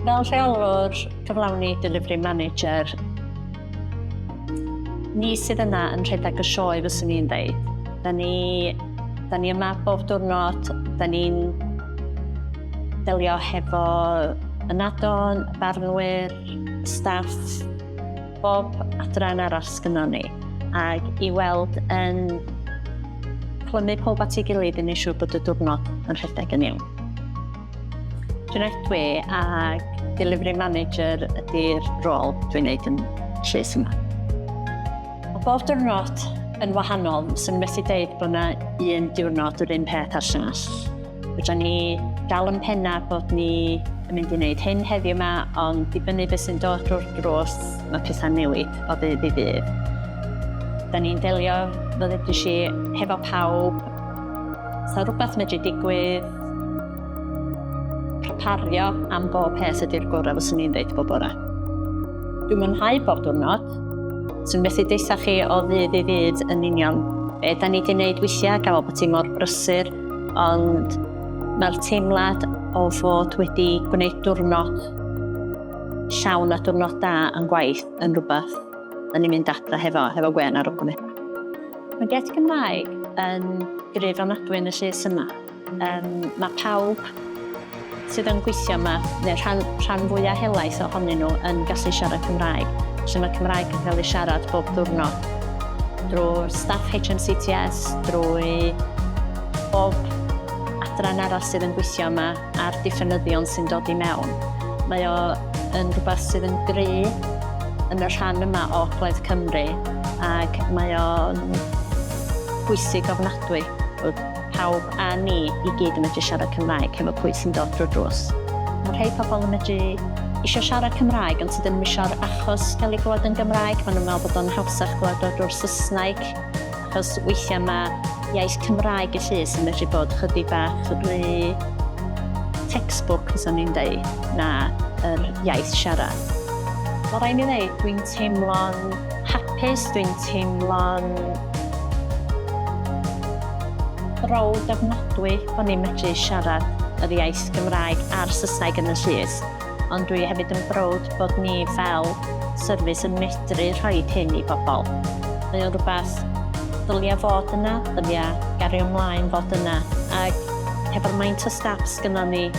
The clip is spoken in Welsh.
Fel rheolwr cyflawni, delivery manager, ni sydd yna yn rhedeg y sioe fyswn i'n dweud. Da ni, da ni yma bob diwrnod, da ni'n delio hefo ynadon, barnwyr, staff, bob adran arall sgynnon ni, ac i weld yn clymu pob at ei gilydd i wneud siŵr bod y diwrnod yn rhedeg yn iawn. Dwi'n edwi ac delivery manager ydy'r rôl dwi'n neud yn llys yma. Mae bob diwrnod yn wahanol, sy'n methu deud bod yna un diwrnod yr un peth a'r llall. Fydra ni dal yn penna bod ni yn mynd i wneud hyn heddiw yma, ond dibynnu beth sy'n dod drwy'r drws, mae pethau'n newid o ddydd i ddydd. Da ni'n delio, fel ddedais i, hefo pawb. Sa rhywbeth medru digwydd, Prepario am bob peth ydy'r gorau fyswn i'n dweud bob bore. Dwi'n mwynhau bob diwrnod. Swn methu deitha chi o ddydd i ddydd yn union be da ni wedi gwneud weithiau gael bod ti mor brysur, ond mae'r teimlad o fod wedi gwneud diwrnod llawn a diwrnod da yn gwaith yn rhywbeth da ni'n mynd adra hefo, hefo gwen ar ogwni. Mae get Cymraeg yn gryf ofnadwy yn y llys yma. Um, mae pawb sydd yn gweithio yma, neu rhan, rhan fwyaf helaeth ohonyn nhw, yn gallu siarad Cymraeg. Felly mae Cymraeg yn cael ei siarad bob diwrnod drwy staff HMCTS, drwy bob adran arall sydd yn gweithio yma a'r diffynyddion sy'n dod i mewn. Mae o yn rhywbeth sydd yn gry yn y rhan yma o Gledd Cymru ac mae o'n bwysig ofnadwy. Pawb a ni i gyd yn medru siarad Cymraeg hefo pwy sy'n dod drwy'r drws. Mae rhei pobl yn medru isio siarad Cymraeg ond tydyn nhw ddim isio'r achos gael ei glywed yn Gymraeg, maen nhw'n meddwl bod o'n hawsach glywed o drwy'r Saesneg achos weithiau mae iaith Cymraeg y llys yn medru bod chydig bach rhy textbook, fyswn i'n deud, na yr iaith siarad. Mae rhaid mi ddeud, dwi'n teimlo'n hapus, dwi'n teimlo'n browd ofnadwy bod ni'n medru siarad yr iaith Gymraeg a'r Saesneg yn y llys, ond dwi hefyd yn browd bod ni fel service yn medru rhoi hyn i bobl. Mae o'n rhywbeth ddylia fod yna, ddylia gario ymlaen fod yna, ac hefo'r maint o staff sgynnon ni,